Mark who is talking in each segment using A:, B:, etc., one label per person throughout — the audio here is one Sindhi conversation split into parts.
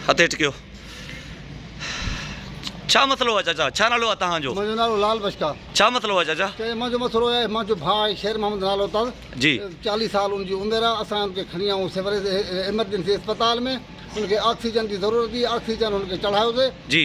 A: هٿ هيٺ ڪيو ڇا مسئلو آهي چاچا ڇا نالو آهي تهان جو منهنجو نالو لال بشڪا
B: ڇا مسئلو آهي چاچا
A: چاچا منهنجو مسئلو آهي منهنجو
B: ڀاء آهي شير محمد نالو تز جي چاليهه
A: سال ان جي
B: عمر آهي اسان ان کي کڻي آيون سيوريج ايمرجنسي اسپتال ۾ ان کي آڪسيجن جي ضرورت هئي آڪسيجن ان کي چڙهايوسي جي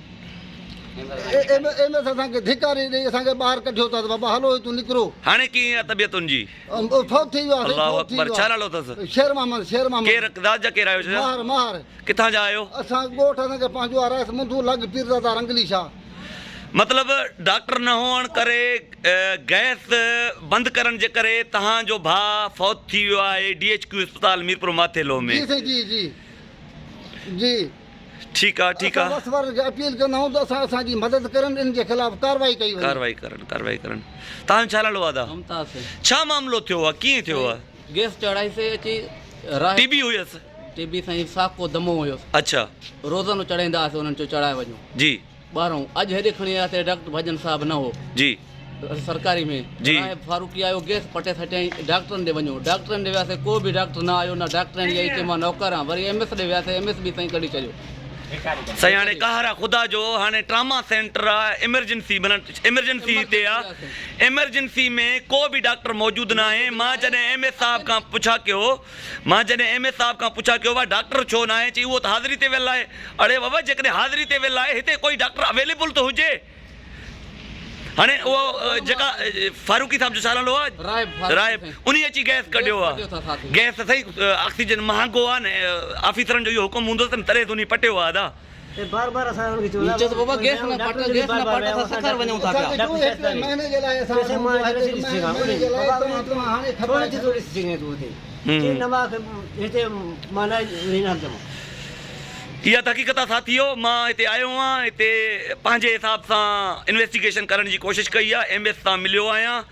B: ايم ايس اسان کي ڌڪاري ڏئي اسان کي ٻاهر ڪڍيو اٿس بابا هلو هتون نڪرو. هاڻي ڪيئن آ طبيعت
A: ان جي. فوت ٿي ويو آ
B: سائين الله فوت ٿي اڪبر ويو ڇا آ. نالو اٿس.
A: شير محمد شير محمد.
B: ڪير ذات جا ڪير آهيو چچا.
A: ماهر ماهر. ڪٿان
B: جا آهيو.
A: اسان ڳوٺ اسان کي
B: پنهنجو آ رئيس منڌو لڳ پيرزادا رنگلي شاهه. مطلب
A: ڊاڪٽر نه هئڻ ڪري گئس بند ڪرڻ جي ڪري تهان جو ڀاء فوت ٿي ويو آهي ڊي ايڇ ڪيو اسپتال ميرپور ماٿيلو ۾. جي سائين جي جي
B: جي.
A: ٺيڪ آ ٺيڪ آ. اسان وس وارن کي اپيل ڪندائون
B: ته اسان اسان جي مدد ڪرن ان جي خلاف ڪاروائي ڪئي وڃي. ڪاروائي ڪرن ڪاروائي ڪرن
A: تان ڇا لاڙو آ دا. ممتاز سائين. ڇا
C: معاملو ٿيو
A: آ ڪيئن ٿيو آ. گيس چڙهائي سي
C: اچي راهي. ٽي بي
A: هيس. ٽي بي سائين
C: ساڪو دمو هيس. اڇا. روزانو
A: چڙهائيندا
C: هئاسي انهن چو چڙهائي وڃو. جي. ٻاهرئون
A: اڄ هيڏي
C: کڻي آيا ته ڊاڪٽر ڀڄن صاحب نه هو جي
A: سرڪاري ۾
C: جي راهب فاروقي
A: آيو
C: گيس پٽي سٽيائين ڊاڪٽرن ڏي وڃو ڊاڪٽرن ڏي وياسين ڪو به ڊاڪٽر نه آيو نه ڊاڪٽرياڻي آئي چئي مان نوڪر آهيان وري ايم ايس ڏي وياسين ايم ايس به سائين ڪڍي ڇڏيو سائين هاڻي
A: قهر آ خدا جو هاڻي ٽراما سينٽر آ ايمرجنسي معنيٰ ايمرجنسي هتي آ ايمرجنسي ۾ ڪو به ڊاڪٽر موجود ناهي مان جڏهن ايم ايس صاحب کان پڇا ڪيو مان جڏهن ايم اي صاحب کان پڇا ڪيو واه ڊاڪٽر ڇو ناهي چئي اهو ته حاضري تي ويل آهي اڙي ووه جيڪڏهن حاضري تي ويل آهي هتي ڪوئي ڊاڪٽر اويليبل ته هجي هاڻي اهو جيڪا فاروقي صاحب جو ڇا نالو آهي رائب انهي اچي گئس ڪڍيو آ گئس ته سهي آڪسيجن مهانگو آ نه آفيسرن جو اهو حڪم هوندو تن تڏهن ته انهي پٽيو آ ادا. تحقيق تان ساٿيو مان هتي آيو هئان هتي پنهنجي حساب سان انويسٽيگيشن ڪرڻ جي ڪوشش ڪئي آهي ايم ايس سان مليو آهيان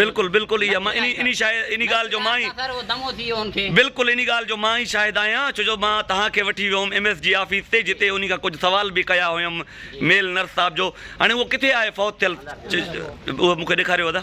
D: بلڪل بلڪل اها مان
A: انهي شاعر انهي ڳالهه جو مان ئي
D: بلڪل انهي ڳالهه جو مان
A: ئي شاهد آهيان ڇو جو مان توهان کي وٺي ويو هوم ايم ايس جي آفيس تي جتي انهي کان ڪجهه سوال به ڪيا هيم ميل نرس صاحب جو هاڻي اهو ڪٿي آهي فوت ٿيل اهو مون کي ڏيکاريو ادا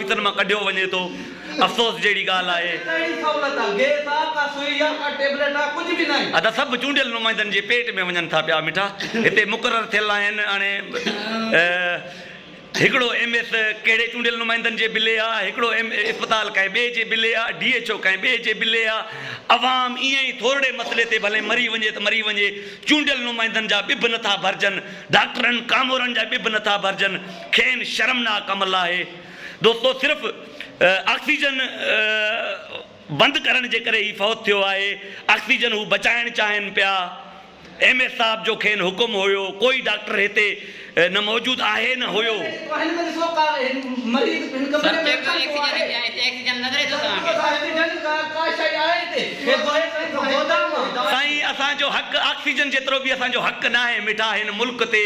A: ڪويتن مان ڪڍيو وڃي ٿو، افسوس جهڙي ڳالهه آهي. ادا سڀ چونڊيل نمائندن جي پيٽ ۾ وڃن ٿا پيا مٺا هتي مقرر ٿيل آهن هاڻي هڪڙو ايم ايس ڪهڙي چونڊيل نمائندن جي بلي آ هڪڙو ايم اسپتال ڪنهن ٻئي جي بلي آ ڊي ايڇ او ڪنهن ٻئي جي بلي آ عوام ايئن ئي ٿورڙي مسئلي تي ڀلي مري وڃي ته مري وڃي چونڊيل نمائندن جا ٻه به نٿا ڀرجن ڊاڪٽرن ڪامورن جا ٻه به نٿا ڀرجن کين شرمناڪ عمل آهي دوستو صرف آڪسيجن بند ڪرڻ جي ڪري هي فوت ٿيو آهي آڪسيجن هو بچائڻ چاهين پيا ايم ايس صاحب جو کين حڪم هيو ڪوئي ڊاڪٽر هتي نه موجود آهي نه هيو.
C: سائين اسان جو حق
A: آڪسيجن جيترو به اسان جو حق ناهي مٺا هن ملڪ تي.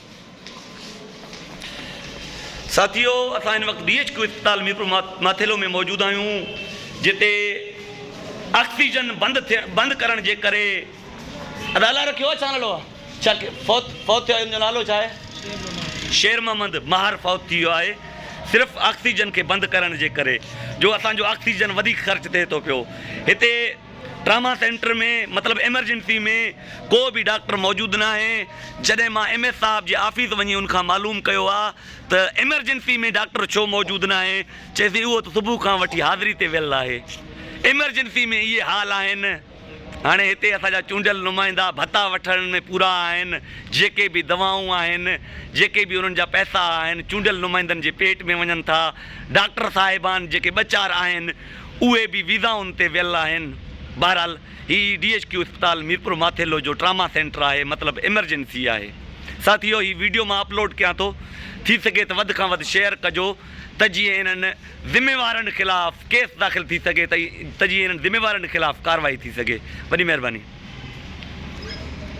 A: ساٿيو اسان هن وقت بي ايڇ ڪيو اسپتال ميرپور ماٿيلو ۾ موجود آهيون جتي آڪسيجن بند ٿيڻ بند ڪرڻ جي ڪري ادا الاء رکيو آهي ڇا نالو آهي ڇا فوت فوت ٿيو ان جو نالو ڇا آهي شير محمد ماهر فوت ٿي ويو آهي صرف آڪسيجن کي بند ڪرڻ جي ڪري جو اسان جو آڪسيجن وڌيڪ خرچ ٿئي ٿو پيو هتي ٽراما سينٽر ۾ مطلب ايمرجنسي ۾ ڪو به ڊاڪٽر موجود ناهي، جڏهن مان ايم ايس صاحب جي آفيس وڃي ان کان معلوم ڪيو آ ته ايمرجنسي ۾ ڊاڪٽر ڇو موجود ناهي، چيسين اهو ته صبح کان وٺي حاضري تي ويل آهي. ايمرجنسي ۾ اهي حال آهن. هاڻي هتي اسان جا چونڊيل نمائندا ڀتا وٺڻ ۾ پورا آهن، جيڪي به دوائون آهن، جيڪي به انهن جا پئسا آهن، چونڊيل نمائندن جي پيٽ ۾ وڃن ٿا. ڊاڪٽر صاحبان جيڪي ٻه چار آهن، اهي به ويزائن تي ويل آهن. بهرحال هي ڊي ايڇ ڪيو اسپتال ميرپور ماٿيلو جو ٽراما سينٽر آهي مطلب ايمرجنسي آهي. ساٿيو هي ويڊيو مان اپلوڊ ڪيان ٿو ٿي سگهي ته وڌ کان وڌ شيئر ڪجو ته جيئن انهن ذميوارن خلاف ڪيس داخل ٿي سگهي ته جيئن انهن ذميوارن خلاف ڪارروائي ٿي سگهي. وڏي مهرباني.